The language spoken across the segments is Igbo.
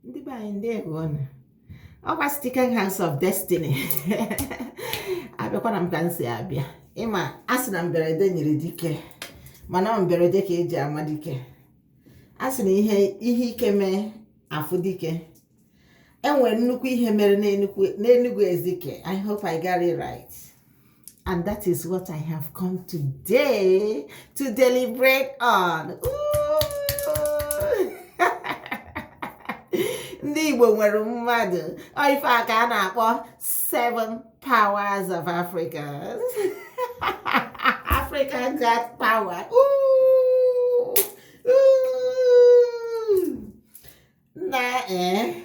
ndị be anyị ndewo nụ ọkwa Stikan House of Destiny abịakwara m ka m si abịa ịma a sị na mberede nyiri dike mana ọ mberede ka eji ama dike a sị na ihe ike mee afụ dike enwere nnukwu ihe mere n'Enugu Ezike I hope I got it right And that is what I have come today to deliberate on. na Igbo nwere mmadụ ife a ka a na-akpọ seven powers of Africa Africa got power Ooh! na ee eh,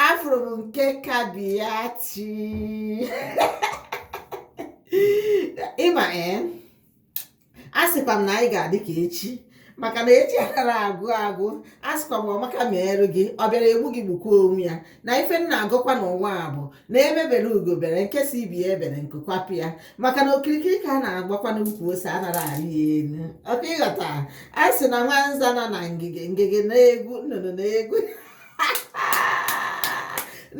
afụrụ m nke kabiachi ịma ee eh, a sịkwa m na anyị ga-adị ka echi maka na echi anara agwụ agwụ asịkwa m ọmaka meerụ gị ọ bịara egbu gị gbukwa onwe ya na ife m na-agọkwa n'ụwa a bụ na egbe bere ugo bere nke si ibe ya ebere nku kwapụ ya maka na okirikiri ka a na-agbakwa n'ukwu ose anara arị ya elu ọkwa ịghọta a sị na nwanza nọ na ngige ngige na-egwu nnụnụ na-egwu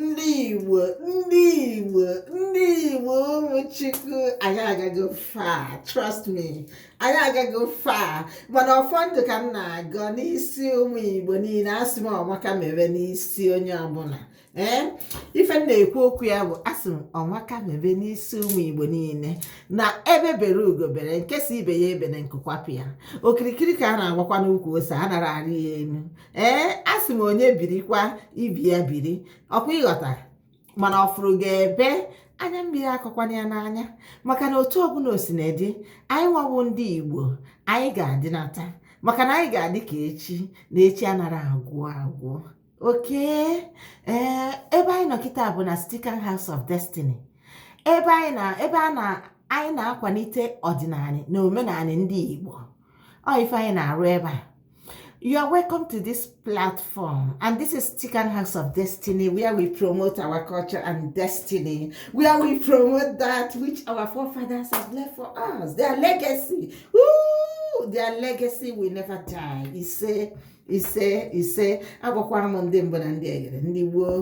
ndị igbo ndị igbo ndị igbo ụmụ chukwu anyị agago far trust me anyị agago far mana ọfọ ndụ ka m na-agọ n'isi ụmụ igbo niile asị m ọmaka mebe n'isi onye ọbụla ee ife m na-ekwu okwu ya bụ asị m ọmaka mebe n'isi ụmụ igbo niile na egbe bere ugo bere nke si ibe ya ebere nku kwapụ ya okirikiri ka a na-agbakwa n'ukwu ose anara arị ya elu ee asị m onye birikwa ibe ya biri ọkwa ịghọta mana ọfụrụ gị ebe anya mmiri akọkwana ya n'anya maka na otu ọbụla o sina dị anyị nwa wụ ndị igbo anyị ga-adịnata maka na anyị ga-adị ka echi na echi anara agwụ agwụ okay ee ebe anyị nọ kịta bụ na Stikan House of Destiny ebe anyị na ebe a na anyị na-akwalite ọdịnanị na omenanị ndị Igbo ọ ife anyị na-arụ ebe a You are welcome to this platform, and this is Stikan House of Destiny, where we promote our culture and destiny, where we promote that which our forefathers have left for us, their legacy. Ooh, their legacy will never die. ise ise ise agwakwara m ndị mbụ na ndị egede ndị gboo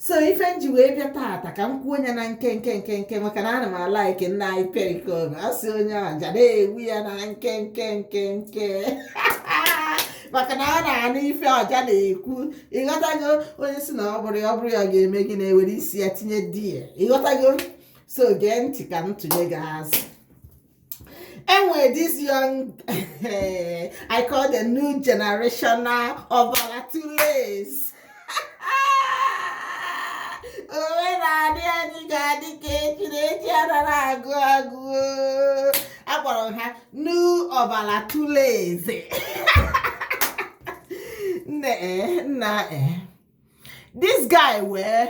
so ife m ji wee bịa taata ka m kwuo nya na nkenke nkenke maka na anụ m like nna anyị Pericoma sị onye ọja na-egbu ya na nkenke nkenke maka na a na-anụ ife ọja na-ekwu ịghọtago onye si na ọ bụrụ ya ọ bụrụ ya ga-eme gị na-ewere isi ya tinye there ịghọtago so gee ntị ka m tụnye gị azụ enwere this young i call the new generational ọbara tules onwe na-adị anyị ga-adị ka echi na echi anara agwụ agwụ akpọrọ ha new ọbara tules nna eh, nna eh. this guy wee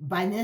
banye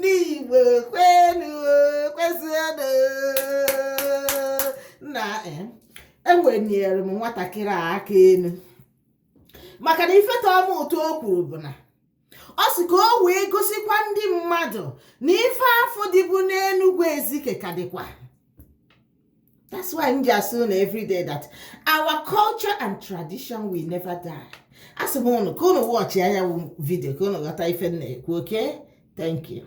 n'igbo kwenu nna eweniere m nwatakịrị a aka elu maka na ife tọọ m ụtọ o kwuru bụ na ọ sị ka o wee gosikwa ndị mmadụ na ife afụ dịbu n'enugwu ezike ka dịkwa That's why m ji asị unu everyday that our culture and tradition will never die. Asị m unu ka unu watchịa ya video ka unu ghọta ife m na-ekwu okay thank you.